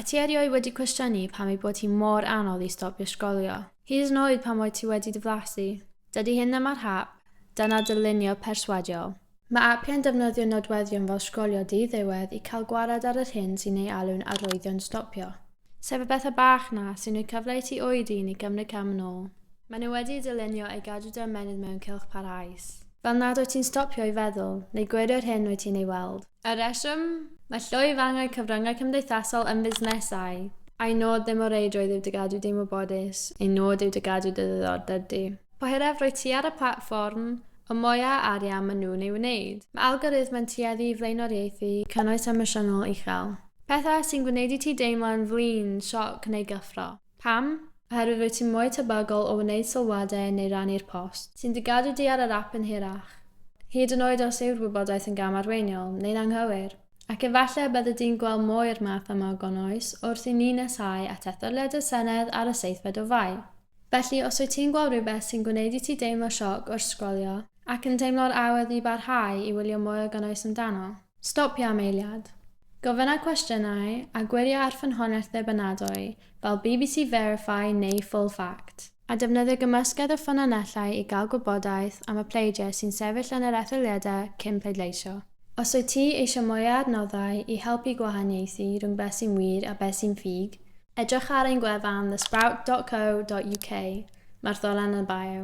Wyt ti erioed wedi cwestiynu pam ei bod hi mor anodd i stopio sgrolio? Hyd yn oed pan wyt ti wedi dy flasu? Dydy hyn ddim ar hap, dyna dylunio perswadiol. Mae apiau'n defnyddio nodweddion fel sgrolio di-ddiwedd i cael gwared ar yr hyn sy'n ei alw'n arwyddion stopio. Sef y pethau bach 'na sy'n rhoi cyfle i ti oedi neu gymryd cam yn ôl. Maen nhw wedi eu dylunio i gadw dy ymennydd mewn cylch parhaus. Fel nad wyt ti'n stopio i feddwl, neu gwirio'r hyn wyt ti'n ei weld. Y rheswm? Mae llwyfangau cyfryngau cymdeithasol yn fusnesau. Ein nod ddim o reidrwydd yw dy gadw di'n wybodus, ein nod yw dy gadw dy ddiddordeb di. Po hiraf rwyt ti ar y platfform, y mwy a arian maen nhw'n ei wneud. Mae algorithmau'n tueddu i flaenoriaethu cynnwys emosiynol uchel. Pethau sy'n gwneud i ti deimlo'n flin, sioc neu gyffro. Pam? Oherwydd rwyt ti mwy tebygol o wneud sylwadau neu rannu'r post, sy'n dy gadw di ar yr ap yn hirach, hyd yn oed os yw'r wybodaeth yn gamarweiniol neu'n anghywir. Ac efallai y bydde di'n gweld mwy o'r math yma o gonnwys wrth i ni nesáu at etholiad y Senedd ar y seithfed o Fai. Felly, os wyt ti'n gweld rhywbeth sy'n gwneud i ti deimlo sioc wrth sgrolio, ac yn teimlo'r awydd i barhau i wylio mwy o gonnwys amdano, Stopia am eiliad. Gofynna cwestiynau a gwiria ar ffynhonnell ddibynadwy fel bbc Verify neu Full Fact, a defnyddia gymysgedd o ffynonellau i gael gwybodaeth am y pleidiau sy'n sefyll yn yr etholiadau cyn pleidleisio. Os wyt ti eisiau mwy o adnoddau i helpu gwahaniaethu rhwng beth sy'n wir a beth sy'n ffug, edrych ar ein gwefan thesprout.co.uk, mae'r ddolen yn y bio.